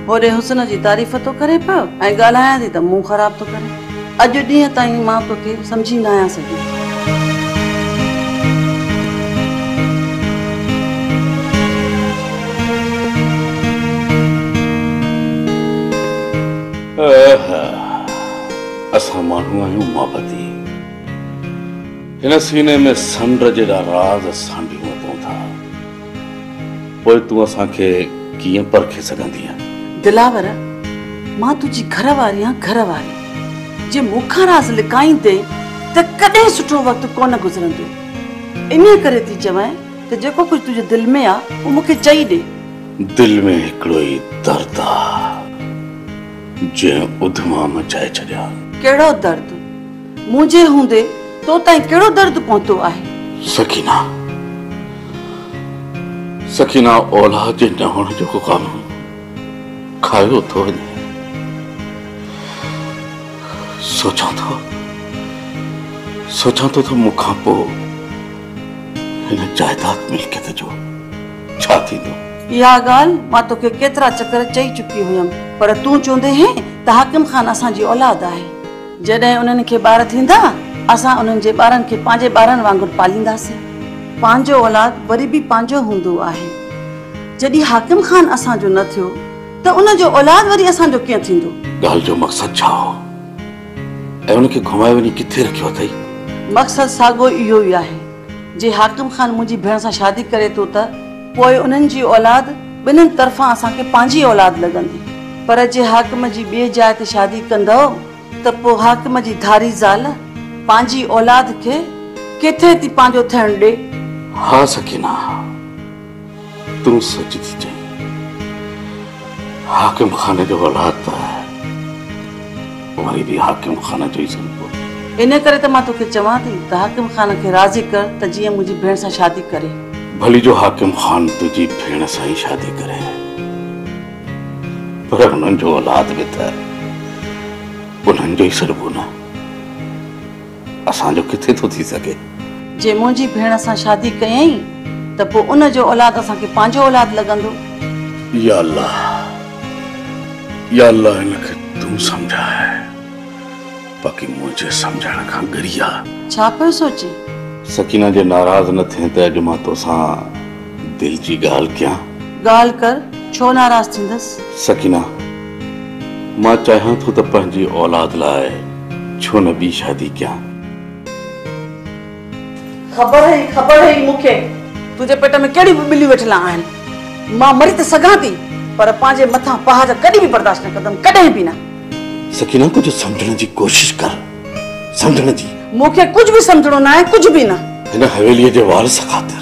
هوڏي حسن جي تعريف ٿو ڪرين پيو ۽ ڳالهايان ٿي ته منهن خراب ٿو ڪرين. اڄ ڏينهن تائين مان توکي سمجهي نه آهيان سگهي. اهه اسان ماڻهو آهيون محبتي هن سيني ۾ سنڊ جيڏا راز سانڍيون اٿئون ٿا پوء تون اسان کي ڪيئن پرکي سگهندينء. دلاور مان تنهنجي گهر واري آهيان گهر واري جي مون کان راز لڪائيندين ته ڪڏهن سٺو وقت ڪونه گذرندو انهيء ڪري ٿي چوين ته جيڪو ڪجهه تنهنجي دل ۾ آهي اهو مون کي چئي ڏي. دل ۾ هڪڙو ئي درد آ جنهن اڌما مچائي ڇڏيا. ڪهڙو درد؟ مون جي هوندي تو تائين ڪهڙو درد پهتو آهي؟ سڪينه سڪينه اولاد جي نه هئڻ جو غم کايو ٿو وڃي. سوچان ٿو سوچان ٿو ته مون کان پوء هن جائداد ملڪيت جو. ڇا ٿيندو؟ اها ڳالهه مان توکي ڪيترا چڪر چئي چڪي هيم، پر تون چوندي هين ته حاڪم خان اسان جي اولاد آهي. جڏهن انهن کي ٻار ٿيندا، اسان انهن جي ٻارن کي پنهنجي ٻارن وانگر پالينداسين. پنهنجو اولاد وري به پنهنجو هوندو آهي. جڏهن حاڪم خان اسان جو نه ٿيو ته ان جو اولاد وري اسان جو ڪيئن ٿيندو؟ ڳالهه جو مقصد ڇا هو ۽ ان کي گهمائي وڃي ڪٿي رکيو اٿئي؟ مقصد ساڳيو اهو ئي آهي. جي حاڪم خان منهنجي ڀيڻ سان شادي ڪري ٿو ته پوء انهن جي اولاد ٻنهن طرفان اسان کي پنهنجي اولاد لڳندي، پر جي حاڪم جي ٻئي جاء تي شادي ڪندؤ ته پوء حاڪم جي ڌاري زال پنهنجي اولاد کي ڪٿي ٿي پنهنجو ٿيڻ ڏي؟ ها سڪينه! تون سچ ٿي چئين حاڪم خان جو اولاد ته وري به حاڪم خان جو ئي سڏبو. ان ڪري ته مان توکي چوان ٿي ته حاڪم خان کي راضي ڪر ته جيئن منهنجي ڀيڻ سان شادي ڪري. ڀلي جو حاڪم خان تنهنجي ڀيڻ سان ئي شادي ڪري پر انهن جو اولاد به ته انهن جو ئي سڏبو نه. اسان جو ڪٿي ٿو ٿي سگهي. جي منهنجي ڀيڻ سان شادي ڪيائين ته پوء ان جو اولاد اسان کي پنهنجو اولاد لڳندو. يا الله يا الله هن کي تون سمجهاء باقي منهنجي سمجهڻ کان ڳري آ. ڇا پيو سوچين؟ سڪينه جي ناراض نه ٿين ته اڄ مان توسان دل جي ڳالهه ڪيان. ڳالهه ڪر ڇو ناراض ٿيندس. سڪينه! مان چاهيان ٿو ته پنهنجي اولاد لاء ڇو نه ٻي شادي ڪيان. خبر هئي خبر هئي مون کي. تنهنجي پيٽ ۾ ڪهڙيون به ٻليون ويٺلان آهن. مان مري ته سگهان ٿي پر پنهنجي مٿان پهاج ڪڏهن به برداشت نه ڪندم ڪڏهن به نه. سڪينه ڪجهه سمجهڻ جي ڪوشش ڪر سمجهڻ جي. مون کي ڪجهه به سمجهڻو ناهي ڪجهه به نه. هن حويلي جي وارث خاطر.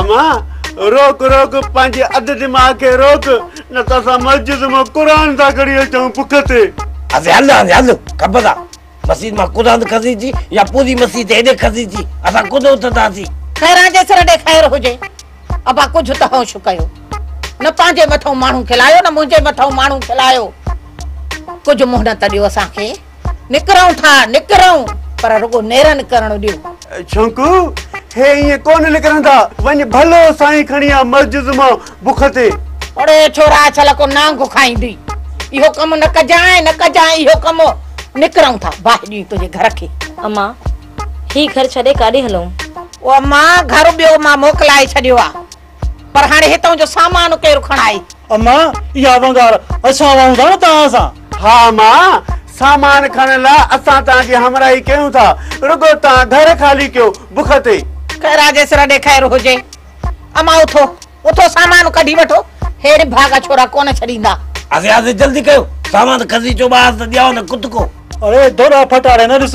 امان روڪ روڪ پنهنجي اڌ دماغ کي روڪ نه ته اسان مسجد مان قرآن ٿا کڻي اچون بک تي. اسين هل هاڻي هل کپ سان مسيد مان قرآن کسي چي يا پوري مسيد هيڏي کسي چي اسان ڪونه اٿنداسين. خيران جي سر ڏي خير هجي. ابا ڪجهه ته هوش ڪيو. نه پنهنجي مٿئون ماڻهو کلايو نه منهنجي مٿئون ماڻهو کلايو. ڪجهه مهلت ڏيو اسان کي. نڪرئون ٿا نڪرئون پر رڳو نيرن ڪرڻ ڏيو. ڇونڪو هي ائين ڪونه نڪرندا. وڃ ڀلو سائين کڻي آ مسجد مان بک تي. اڙي ڇورا ڇل ڪو نانگ کائيندي. اهو ڪم نه ڪجانء نه ڪجانء اهو ڪم. نڪرئون ٿا باهه ڏينهن تنهنجي گهر کي. امان هي گهر ڇڏي ڪاڏي هلئون. او امان گهر ٻيو مان موڪلائي ڇڏيو آ. پر هاڻي هتان جو سامان ڪير کڻائي؟ اما اها ونگار اسان وهون ٿا نه توهان سان. ها اما سامان کڻڻ لاء اسان توهان جي همراهي ڪيون ٿا رڳو توهان گهر خالي ڪيو بک تي. خير آ جيسر اڏي خير هجي. اما اٿو اٿو سامان ڪڍي وٺو هيڙي ڀاڳا ڇورا ڪونه ڇڏيندا. آسي آسي جلدي ڪيو سامان کسي چو ٻاهر ته ڄائو نه ڪتڪو. اڙي ڌوڏا ڦٽاڙي نه ڏس.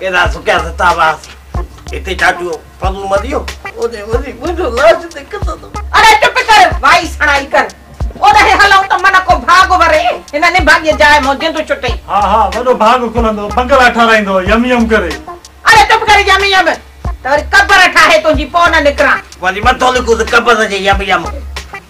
ڪيڏا سڪيا ستا هئاسي هتي چاٽيو فضل مديو اوڏي وڃي منهنجو لاش تي ڪتندو. اڙي چپ ڪر وائي سڻائي ڪر اوڏانهن هلون ته من ڪو ڀاڳ وري هن نڀاڳيء جاء مون جند ڇٽي. ها ها وڏو ڀاڳ کلندو بنگلا ٺاراهيندو يم يم ڪري. اڙي چپ ڪر يم يم ته وري قبر ٺاهي تنهنجي پوء نه نڪران. وڃي مٿو لڪوس قبر جي يم يم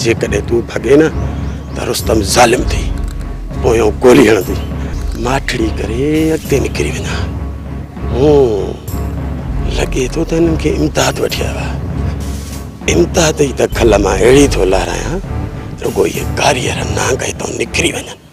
جيڪڏهن تون ڀڳين نه ته رستم ظالم ٿي پويان گولي هڻندي ماٺڙي ڪري اڳتي نڪري وڃان هون لڳي ٿو ته هنن کي امداد وٺي آيو آهي امداد جي ته کل مان اهڙي ٿو لهرايان رڳو هي ڪاريهر نانگ هتان نڪري وڃن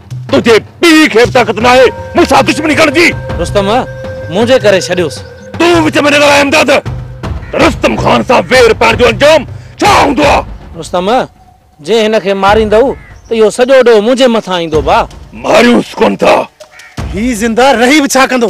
تنهنجي پيء کي به طاقت ناهي مون سان دشمني ڪرڻ جي. رستم، منهنجي ڪري ڇڏيوس. تون وچ ۾ نه ڳالهاء امداد. رستم خان سان وير پائڻ جو انجام ڇا هوندو آ؟ رستم، جي هن کي ماريندؤ ته اهو سڄو ڏوهه منهنجي مٿان ايندو ڀاء. ماريونس ڪونه ٿا. هي زنده رهي به ڇا ڪندو.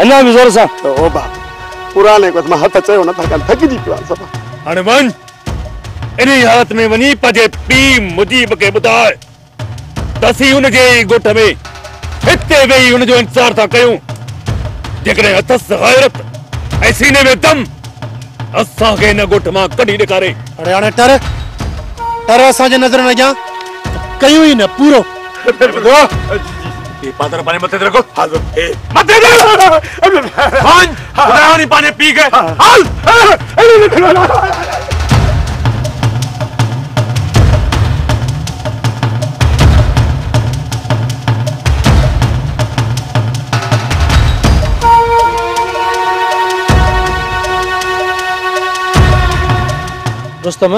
اڃا به زور سان. توبه پراڻي ڪوت مان هٿ چيو نٿا ڪن ٿڪجي پيو آهيان صفا. هاڻي وڃ انهي حالت ۾ وڃي پنهنجي پيء مجيب کي ٻڌاء ته اسين ان جي ئي ڳوٺ ۾ هتي ويهي ان جو انتظار ٿا ڪيون جيڪڏهن اٿس غيرت ۽ سيني ۾ دم ته اسان کي هن ڳوٺ مان ڪڍي ڏيکاري. اڙي هاڻي ٽر ٽر اسان جي نظرن اڳيان ته ڪيون ئي نه پورو. پادر پاڻي مٿي رکو حال اي مٿي دي خان خداڻي پاڻي پي گئي حال رستم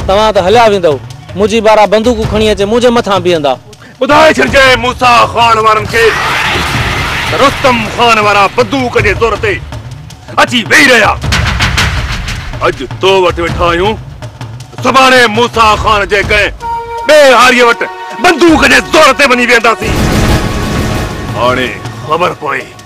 توهان ته هليا ويندؤ، منهنجي بارا بندوقون کڻي اچي منهنجي مٿان بيهندا. ٻڌائي ڇڏجانء موسيٰ خان وارن کي ته رستم خان وارا بندوق جي زور تي اچي ويهي رهيا. اڄ تو وٽ ويٺا آهيون، سڀاڻي موسيٰ خان جي ڪنهن ٻئي هاريء وٽ بندوق جي زور تي وڃي ويهنداسين. هاڻي خبر پوي.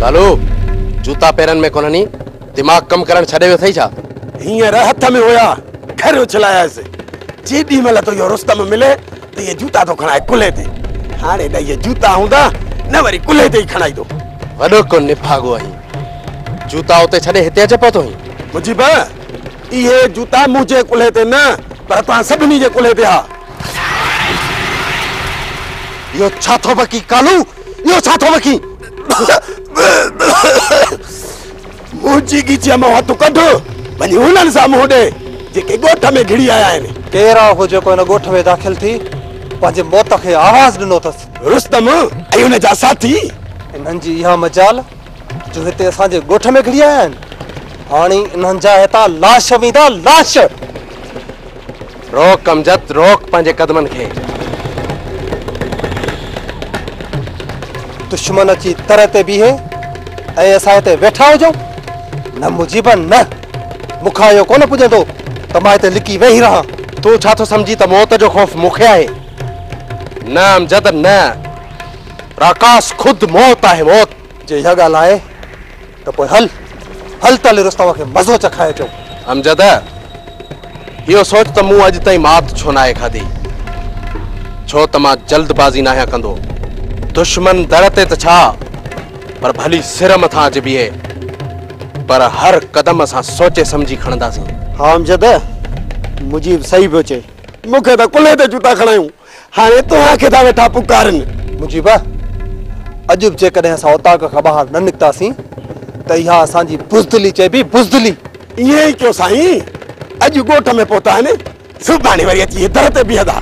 ڪالو جوتا پيرن ۾ ڪونهن ني دماغ ڪم ڪرڻ ڇڏي ويو اٿئي ڇا؟ هينئر هٿ ۾ هيا ڪھر اڇلايس جيڏي مھل تو اهو رستم ملي ته اهي جوتا ٿو کڻائي ڪلهي تي هاڻي نه اهي جوتا هوندا نه وري ڪلهي تي ئي کڻائيندو وڏو ڪو نڀاڳو آهين جوتا اتي ڇڏي هتي اچي پهتو آهين مجيب اهي جوتا منهنجي ڪلهي تي نه پر توهان سڀني جي ڪلهي تي ها اهو ڇا ٿو بڪين ڪالو؟ اهو ڇا ٿو بڪين؟ منهنجي ڳچيء مان هٿ ڪڍ، وڃي هنن سان منهن ڏي، جيڪي ڳوٺ ۾ گهڙي آيا آهن. ڪير آهي اهو جيڪو هن ڳوٺ ۾ داخل ٿي پنهنجي موت کي آواز ڏنو اٿس؟ رستم ۽ ان جا ساٿي. انهن جي اها مجال جو هتي اسان جي ڳوٺ ۾ گهڙي آيا آهن. هاڻي انهن جا هتان لاش ويندا، لاش! روڪ امجد روڪ پنهنجي قدمن کي. دشمن اچي تر تي بيهي ۽ اسان هتي ويٺا هجون؟ نه مجيب نه، مون کان اهو ڪونه پڄندو ته مان هتي لڪي ويهي رهان. تون ڇا ٿو سمجهين ته موت جو خوف مون کي آهي؟ نه امجد نه، راڪاس خود موت آهي موت. جي اها ڳالهه آهي ته پوء هل، هل ته هلي رستم کي مزو چکائي اچون. امجد، اهو سوچ ته مون اڄ تائين مات ڇو ناهي کاڌي، ڇو ته مان جلد بازي ناهيان ڪندو. دشمن در تي ته ڇا، پر ڀلي سر مٿان اچي بيهي، پر هر قدم اسان سوچي سمجهي کڻنداسين. ها امجد، مجيب صحيح پيو چئي. مون کي ته ڪلهي تي جوتا کڻايون، هاڻي توهان کي ٿا ويٺا پڪارن. مجيبه! اڄ به جيڪڏهن اسان اوطاق کان ٻاهر نه نڪتاسين ته اها اسان جي بزدلي چئبي، بزدلي! ائين ئي ڪيو سائين، اڄ ڳوٺ ۾ پهتا آهن، سڀاڻي وري اچي هي در تي بيهندا.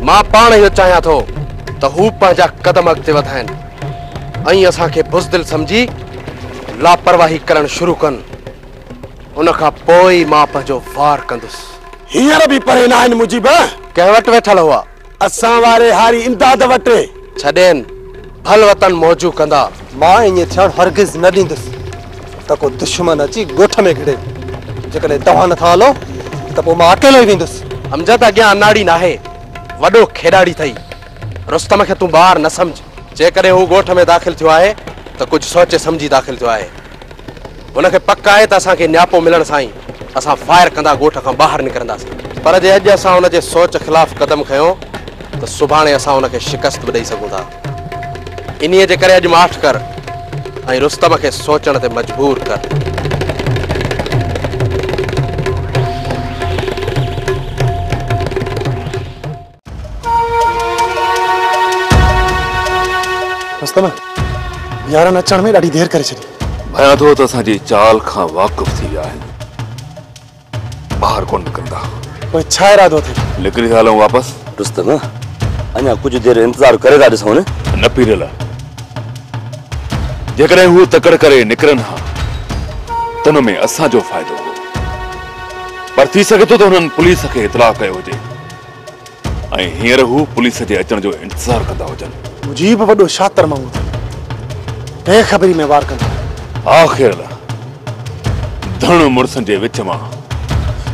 مان پاڻ اهو چاهيان ٿو ته هو پنهنجا قدم اڳتي وڌائين ۽ اسان کي بزدل سمجهي لاپرواهي ڪرڻ شروع ڪن. ان کان پوء ئي مان پنهنجو وار ڪندس. هينئر به پري ناهن مجيب. ڪنهن وٽ ويٺل هئا؟ اسان واري هاري امداد وٽ. ڇڏين، ڀل وطن موجون ڪندا. مان ائين ٿيڻ هرگز نه ڏيندس ته ڪو دشمن اچي ڳوٺ ۾ گهڙي. جيڪڏهن توهان نٿا هلو ته پوء مان اڪيلو ئي ويندس. امجد اڳيان اناڙي ناهي، وڏو کيڏاڙي اٿئي. رستم کي تون ٻار نه سمجهه. جيڪڏهن هو ڳوٺ ۾ داخل ٿيو آهي ته ڪجهه سوچي سمجهي داخل ٿيو آهي. هن کي پڪ آهي ته اسان کي نياپو ملڻ سان ئي اسان فائر ڪندا ڳوٺ کان ٻاهر نڪرنداسين. پر جي اڄ اسان هن جي سوچ خلاف قدم کنيو ته سڀاڻي اسان هن کي شڪست به ڏئي سگهون ٿا. انهيء جي ڪري اڄ ماٺ ڪر ۽ رستم کي سوچڻ تي مجبور ڪر. مستمع يارن اچڻ ۾ ڏاڍي دير ڪري ڇڏي. ڀيان ٿو ته اسان جي چال کان واقف ٿي ويا آهن. ٻاهر ڪونه نڪرندا. پوء ڇا ارادو اٿئي؟ نڪري ٿا هلون واپس. رستم، اڃا ڪجهه دير انتظار ڪري ٿا ڏسون. نه پيرل، جيڪڏهن هو تڪڙ ڪري نڪرن ها ته ان ۾ اسان جو فائدو هو. پر ٿي سگهي ٿو ته هنن پوليس کي اطلاع ڪيو هجي. ۽ هينئر هو پوليس جي اچڻ جو انتظار ڪندا هجن. مجيب وڏو شاطر ماڻهو اٿئي. بي خبري ۾ وار ڪندو. آخر ڌڻ مڙسن جي وچ مان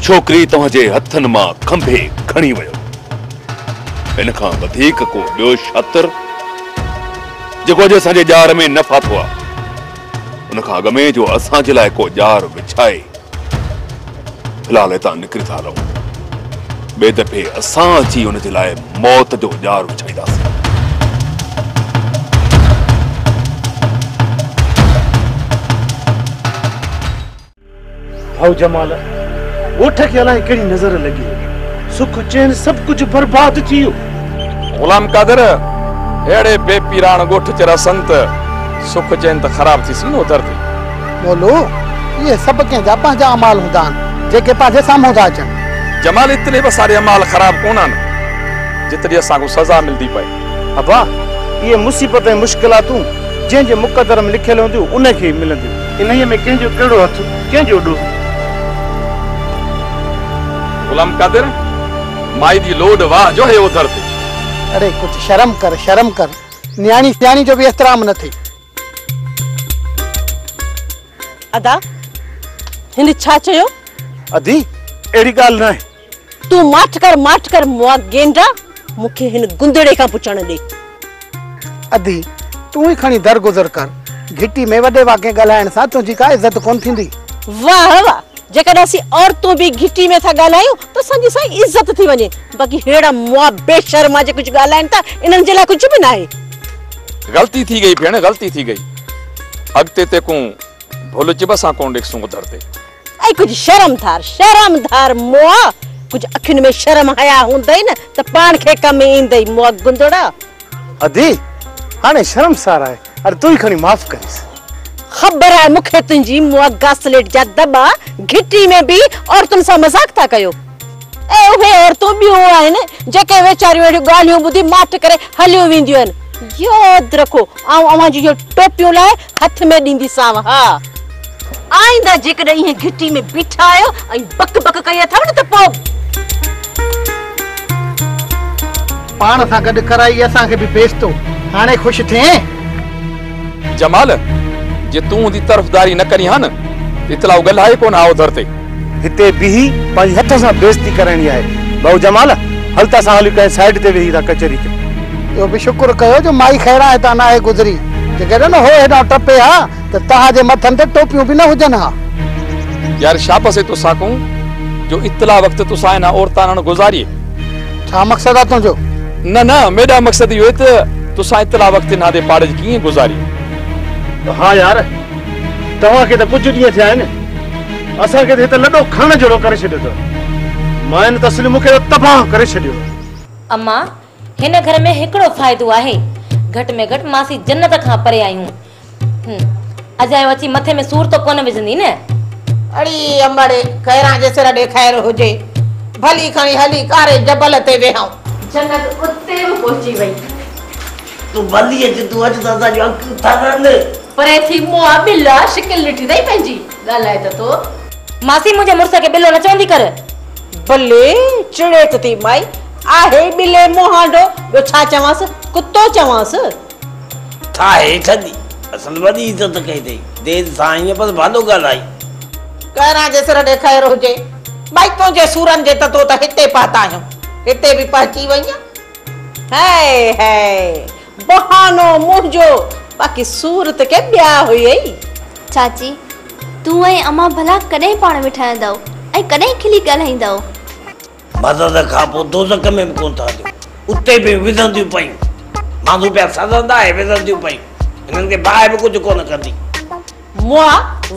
ڇوڪري توهان جي هٿن مان کنڀي کڻي ويو. ان کان وڌيڪ ڪو ٻيو شاطر جيڪو اڄ اسان جي ڄار ۾ نه ڦاٿو آ. ان کان اڳ ۾ جو اسان جي لاء ڪو ڄار وڇائي. في الحال هتان نڪري ٿا هلون. ٻئي دفعي اسان اچي ان جي لاء موت جو ڄار وڇائينداسين. ڀائو جمال، ڳوٺ کي الائي ڪهڙي نظر لڳي. سک چين سڀ ڪجهه برباد ٿي ويو. غلام قادر، اهڙي بي پيراڻ ڳوٺ چ رهسن ته سک چين ته خراب ٿيسين نوتر تي. مولو، اهي سڀ ڪنهن جا پنهنجا اعمال هوندا آهن، جيڪي پنهنجي سامهون ٿا اچن. جمال، اتلي به اسان جي اعمال خراب ڪونه آهن، جيتري اسان کان سزا ملندي پئي. ابا، اهي مصيبت ۽ مشڪلاتون جنهن جي مقدر ۾ لکيل هونديون، انهي کي ئي ملنديون. انهيء ۾ ڪنهن جو ڪهڙو هٿ، ڪنهن جو ڏوهه. غلام قادر، مائي جي لوڏ واهه جو هي اوڌر تي. اڙي ڪجهه شرم ڪر، شرم ڪر. نياڻي سياڻي جو به احترام نه ٿئي. ادا هن ڇا چيو؟ ادي اهڙي ڳالهه ناهي. تون ماٺ ڪر ماٺ ڪر مئا گينڊا مون کي هن گندڙي کان پڇڻ ڏي. ادي تون ئي کڻي درگذر ڪر. گهٽي ۾ وڏي واڪي ڳالهائڻ سان تنهنجي ڪا عزت ڪونه ٿيندي. واهه واهه جيڪڏهن اسين عورتون به گهٽي ۾ ٿا ڳالهايون ته اسان جي سائين عزت ٿي وڃي باقي ههڙا مئا بي شرما جي ڪجهه ڳالهائن ٿا انهن جي لاء ڪجهه به ناهي. غلطي ٿي گئي ڀيڻ غلطي ٿي گئي اڳتي تيڪون ڀل چڀ اسان ڪون ڏيکسون ٻڌڻ تي. اي ڪجهه شرم ڌار شرم ڌار مئا ڪجهه اکين ۾ شرم حيا هوندئي نه ته پاڻ کي ڪم ايندئي مئا گندڙا. ادي هاڻي شرمسار آهي اڙي تون ئي کڻي معاف ڪريس. خبر آهي مون کي تنهنجي مئا گاسليٽ جا دٻا گهٽي ۾ به عورتن سان مذاق ٿا ڪيو ۽ اهي عورتون ٻيون آهن جيڪي ويچاريون اهڙيون ڳالهيون ٻڌي ماٺ ڪري هليون وينديون آهن ياد رکو آئون اوهان جون اهي ٽوپيون لاهي هٿ ۾ ڏينديسانء ها. آئنده جيڪڏهن ائين گهٽي ۾ بيٺا آهيو ۽ بڪ بڪ ڪئي اٿئو نه ته پوء. پاڻ سان گڏ ڪرائي اسان کي به بيستو. هاڻي خوش ٿئين؟ جمال، جي تون هوندي طرفداري نه ڪرين ها نه ته اطلاع ڳلهائي ڪونه ها اوڌر تي. هتي بيهي پنهنجي هٿ سان بيعزتي ڪرائڻي آهي. ڀائو جمال، هل ته اسان هليون ڪنهن سائيڊ تي ويهي ٿا ڪچهري ڪيون. اهو به شڪر ڪيو جو مائي خيران هتان ناهي گذري، جيڪڏهن هوء هيڏانهن ٽپي ها ته توهان جي مٿن تي ٽوپيون به نه هجن ها. يار شابس اي توساڪون جو اطلاع وقت توسان انهن عورتان هڻ گذاريي. ڇا مقصد آ تنهنجو؟ نه نه ميڊم مقصد اهو اي ته توسان اطلاع وقت انهان تي پاڙج ڪيئن گذاريي. ها يار توهان کي ته ڪجهه ڏينهن ٿيا آهن، اسان کي ته هت لڏو کڻڻ جهڙو ڪري ڇڏيو اٿو. ماين ته اصل مون کي ته تباهه ڪري ڇڏيو. اما، هن گهر ۾ هڪڙو فائدو آهي، گهٽ ۾ گهٽ ماسي جنت کان پري آهيون. هن اجايو اچي مٿي ۾ سور ته ڪونه وجهندي نه؟ اڙي امڙي، کيران جي سر ڏي خير هجي. ڀلي کڻي هلي ڪاري جبل تي ويهائون. جنت اتي به پهچي وئي. تون ڀلي اچ تون اچ ته اسان جون اکيون ٿرن. پري ٿي مون آ ٻل آ شڪل ڏٺي اٿئي پنهنجي ڳالهاء ته ٿو. ماسي منهنجي مڙس کي ٻلو نه چوندي ڪر. بلي چڙيت ٿي مائي آهي ئي ٻلي مهانڊو ٻيو ڇا چوانس ڪتو چوانس. ٿا هيٺ اڏي اصل وڏي عزت ڪئي اٿئي دير سان آئين پر ڀلو ڳالهائين. ڪهران جي سر ڏي خير هجي. مائي تنهنجي سورن جي ته تو ته هتي پهتا آهيون هتي به پهچي وئين. هائي هائي بهانو منهنجو باقي صورت ڪي ٻيا هئي. چاچي تون ۽ امان ڀلا ڪڏهن پاڻ ۾ ٺهندؤ ۽ ڪڏهن کلي ڳالهائيندؤ. مدد کان پوء دوزخ ۾ به ڪونه ٺهنديون اتي به وزنديون پيون مانڌو پيا سزندا ۽ وزنديون پيون هنن کي باهه به ڪجهه ڪونه ڪندي مئا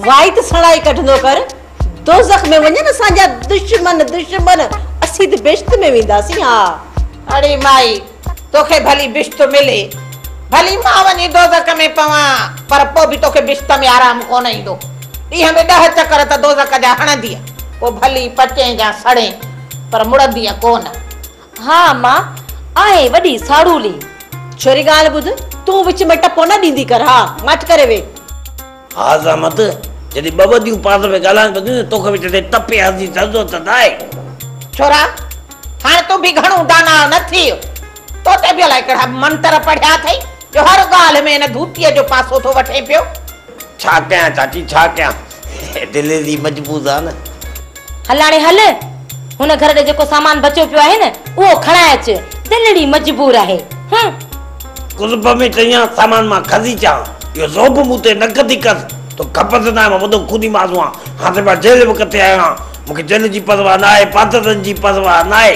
وائٽ سڻائي ڪڍندو ڪر دوزخ ۾ وڃن اسان جا دشمن دشمن اسين ته بهشت ۾ وينداسين ها. اڙي مائي توکي ڀلي بهشت ملي ڀلي مان وڃي دوزخ ۾ پوان پر پوء به توکي بهشت ۾ آرام ڪونه ايندو ڏينهن ۾ ڏهه چڪر ته دوزخ جا هڻندينء پوء ڀلي پچين يا سڙين پر مڙندينء ڪونه. ها اما، آهين وڏي ساڙولي. ڇوري ڳالهه ٻڌ، تون وچ ۾ ٽپو نه ڏيندي ڪر، ها ماٺ ڪري ويهه. ها زحمت، جڏهن ٻه وديون پاس ۾ ڳالهائن پيون ته توکي وچ تي ٽپي هسي ته ضرورت نه آهي. ڇورا، هاڻ تون به گهڻو داناء نه ٿيء. تو تي به الائي ڪهڙا منتر پڙهيا اٿئي جو هر ڳالهه ۾ ان ڌوتيء جو پاسو ٿو وٺين پيو. ڇا ڪيان چاچي ڇا ڪيان دل ايڏي مجبوز آ نه. هلاڻي هل هن گهر ڏي جيڪو سامان بچيو پيو آهي نه اهو کڻائي اچ دل اڙي مجبور آهي هه. قرب ۾ چيان سامان مان کسي چان اهو زوب مون تي نه کسي ڪس تو کپس نه آهي مان وڏو خوني ماس هئان هاڻ ته مان جيل به ڪٽي آيو آهيان مون کي جيل جي پرواهه نه آهي پاترن جي پرواهه نه آهي.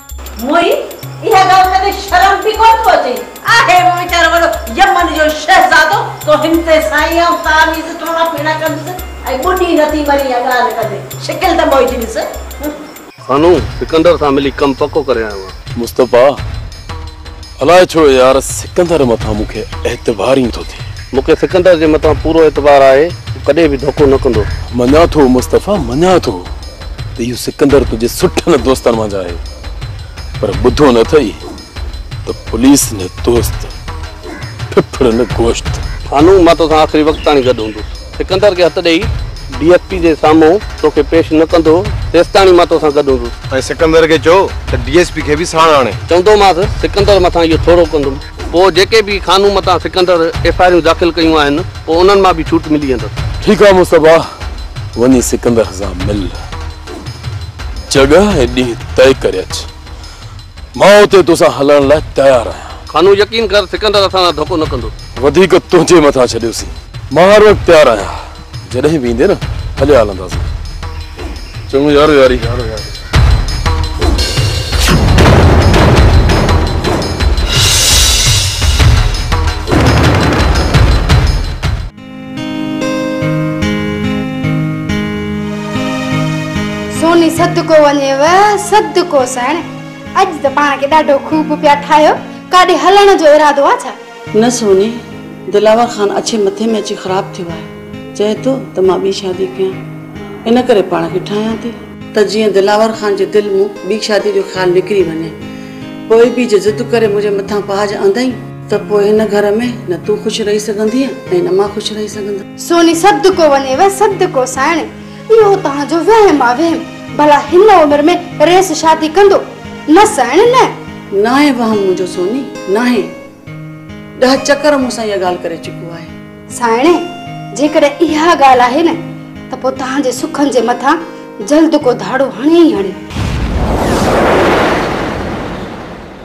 موهي، اها ڳالهه ڪندي شرم به ڪونه ٿو اچي؟ آهي به ويچارو وڏو يمن جو شهزادو، تو هن تي سائين آئون تعويذ ٽوڻا ڦيڻا ڪندس ۽ ٻڏي نٿي مرين اها ڳالهه ڪندي، شڪل ته موهي جي ڏس. خانو، سڪندر سان ملي ڪم پڪو ڪري آيو آهيان. مصطفيٰ! الاء ڇو يار سڪندر مٿان مون کي اعتبار ئي نٿو ٿئي. مون کي سڪندر جي مٿان پورو اعتبار آهي هو ڪڏهن به ڌوڪو نه ڪندو. مڃان ٿو مصطفيٰ مڃان ٿو ته اهو سڪندر تنهنجي سٺن دوستن منجهه آهي پر ٻڌو نه اٿئي ته پوليس نه دوست ڦڦڙ نه گوشت. هانون مان توسان آخري وقت تاڻي گڏ هوندس. سڪندر کي هٿ ڏيئي، ڊي ايس پي جي سامهون توکي پيش نه ڪندو، تيستاڻي مان توسان گڏ هوندس. ۽ سڪندر کي چئو ته ڊي ايس پي کي به ساڻ آڻي. چوندومانس، سڪندر مٿان اهو ٿورو ڪندم. پوء جيڪي به خانو متان سڪندر ايف آء آرون داخل ڪيون آهن، پوء انهن مان به ڇوٽ ملي ويندس. ٺيڪ آ مصطفيٰ، وڃي سڪندر سان مل، جڳهه ۽ ڏينهن طئي ڪري اچ. مان اتي توسان هلڻ لاء تيار آهيان. خانو، يقين ڪر، سڪندر اسان سان ڌوڪو نه ڪندو. وڌيڪ تنهنجي مٿان ڇڏيوسين. مان هر وقت تيار آهيان. جڏهن به ايندين نه، هليا هلنداسين. چڱو يارو ياري. سوني صدقو وڃيو صدقو سهڻي. اڄ ته پاڻ کي ڏاڍو خوب پيا ٺاهيو. ڪاڏي هلڻ جو ارادو آ ڇا؟ نه سوني، دلاور خان اڇي مٿي ۾ اچي خراب ٿيو آهي. چئي ٿو ته مان ٻي شادي ڪيان. ان ڪري پاڻ کي ٺاهيان ٿي. ته جيئن دلاور خان جي دل مون ٻي شادي جو خيال نڪري وڃي. پوء به جي ضد ڪري منهنجي مٿان پاج آندئين. ته پوء هن گهر ۾ نه تون خوش رهي سگهندينء ۽ نه مان خوش رهي سگهندس. سوني صدقو وڃيو صدقو سائڻ، اهو توهان جو وهم آ وهم، ڀلا هن عمر ۾ ريس شادي ڪندو؟ نه سائڻ نه. ناهي وهم منهنجو سوني، ناهي. ڏهه چڪر مون سان اها ڳالهه ڪري چڪو آهي. سائڻ، جيڪڏهن اها ڳالهه آهي نه ته پوء توهان جي سکن جي مٿان جلد ڪو ڌاڙو هڻي ئي هڻي.